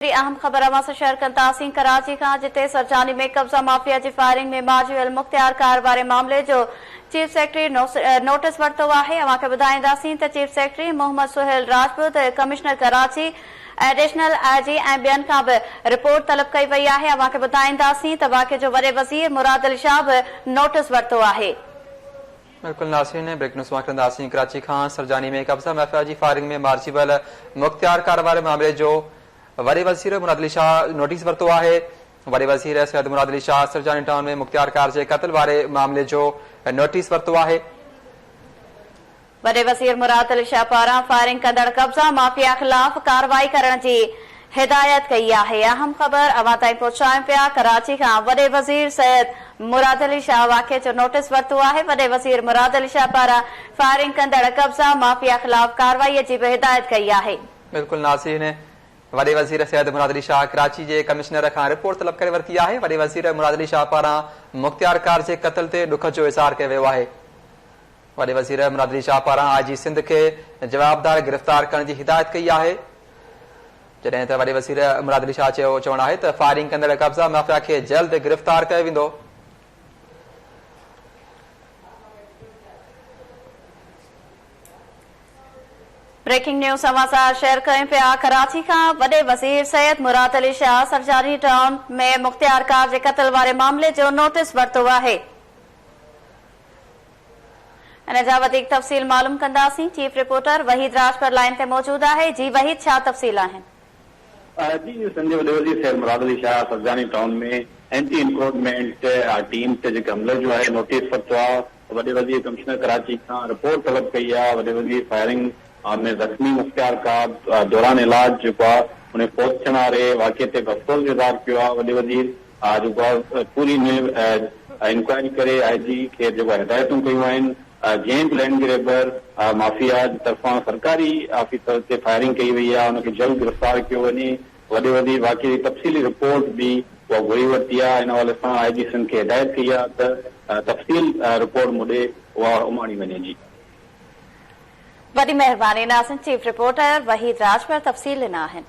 ٽي اهم خبر اوهان سان شيئر ڪن ٿا سين ڪراچي کان جتي سرجاني ۾ قبضا مافيا جي فائرنگ ۾ ماجي المختيار ڪار واري معاملي جو چيف سيڪريٽري نوٽس ورتو آهي اوهان کي ٻڌائينداسين ته chief secretary Muhammad Sohail Rajput commissioner Karachi additional I G ۽ ٻين کان به رپورٽ طلب ڪئي وئي آهي اوهان کي ٻڌائينداسين ته واقعي جو وڏي وزير مراد علي شاهه به نوٽس ورتو آهي. بلڪل ناصرين بريڪنگ نيوز مان کڻنداسين ڪراچي کان سرجاني ۾ قبضه مافيا جي فائرنگ ۾ مارجي ويل مختيار ڪار واري معاملي جو وڏي وزير مراد علي شاهه نوٽيس ورتو آهي وڏي وزير سيد مراد علي شاهه سرجاني ٽائون ۾ مختيار ڪار جي قتل واري معاملي جو نوٽيس ورتو آهي وڏي وزير مراد علي شاهه پاران فائرنگ ڪندڙ قبضا مافيا خلاف ڪارروائي ڪرڻ جي هدايت ڪئي آهي اهم خبر اوهان تائين پهچايون پيا ڪراچي کان وڏي وزير سيد مراد علي شاهه واقعي جو نوٽس ورتو آهي وڏي وزير مراد علي شاهه پاران فائرنگ ڪندڙ قبضا مافيا خلاف ڪارروائي جي به هدايت ڪئي آهي. بلڪل ناظرين وڏي وزير سيد مراد علي شاهه ڪراچي جي ڪمشنر کان رپورٽ طلب ڪري ورتي آهي وڏي وزير مراد علي شاهه پاران مختيار ڪارجي قتل تي ڏک جو اظهار ڪيو ويو آهي. وڏي وزير مرادلي شاهه پاران آء جي سنڌ کي جوابدار گرفتار ڪرڻ جي هدايت ڪئي آهي جڏهن ته وڏي وزير مرادلي شاهه چيو چوڻ آهي ته فائرنگ ڪندڙ قبضا مافيا کي جلد گرفتار ڪيو ويندو بريڪنگ نيوز سماچار شيئر ڪرين پيا ڪراچي کان وڏي وزير سيد مراد علي شاهه سرجاني ٽائون ۾ مختيارڪار جي قتل واري معاملي جو نوٽيس ورتو آهي ان جا وڌيڪ تفصيل معلوم ڪنداسين chief reporter Waheed Rajpar line تي موجود آهي جي وحيد ڇا تفصيل آهن. جي جي سنڌ جي وڏي وزير Syed Murad Ali Shah Surjani town ۾ anti encroachment team تي جيڪي حملي جو آهي نوٽيس ورتو آهي وڏي وزير ڪمشنر ڪراچي کان رپورٽ طلب ڪئي آهي وڏي وزير فائرنگ ۾ زخمي مختيار ڪاب دوران علاج جيڪو آهي ان فوت ٿيڻ واري واقعي تي به افسوس جو اظهار ڪيو آهي وڏي وزير آء جيڪو آهي پوري ان انڪوائري ڪري آء جي کي جيڪو هدايتون ڪيون آهن جنهن به لينڊ گريبر مافيا جي طرفان سرڪاري آفيسر تي فائرنگ ڪئي وئي آهي ان کي جلد گرفتار ڪيو وڃي وڏي وڌي واقعي جي تفصيلي رپورٽ به اها گهري ورتي آهي ان حوالي سان آء جي سنڌ کي هدايت ڪئي آهي ته تفصيل رپورٽ مون ڏي اها اماڻي وڃي جي. وڏي مهرباني ناظرين چيف رپورٽر وحيد راڄپر تفصيل ڏنا آهن.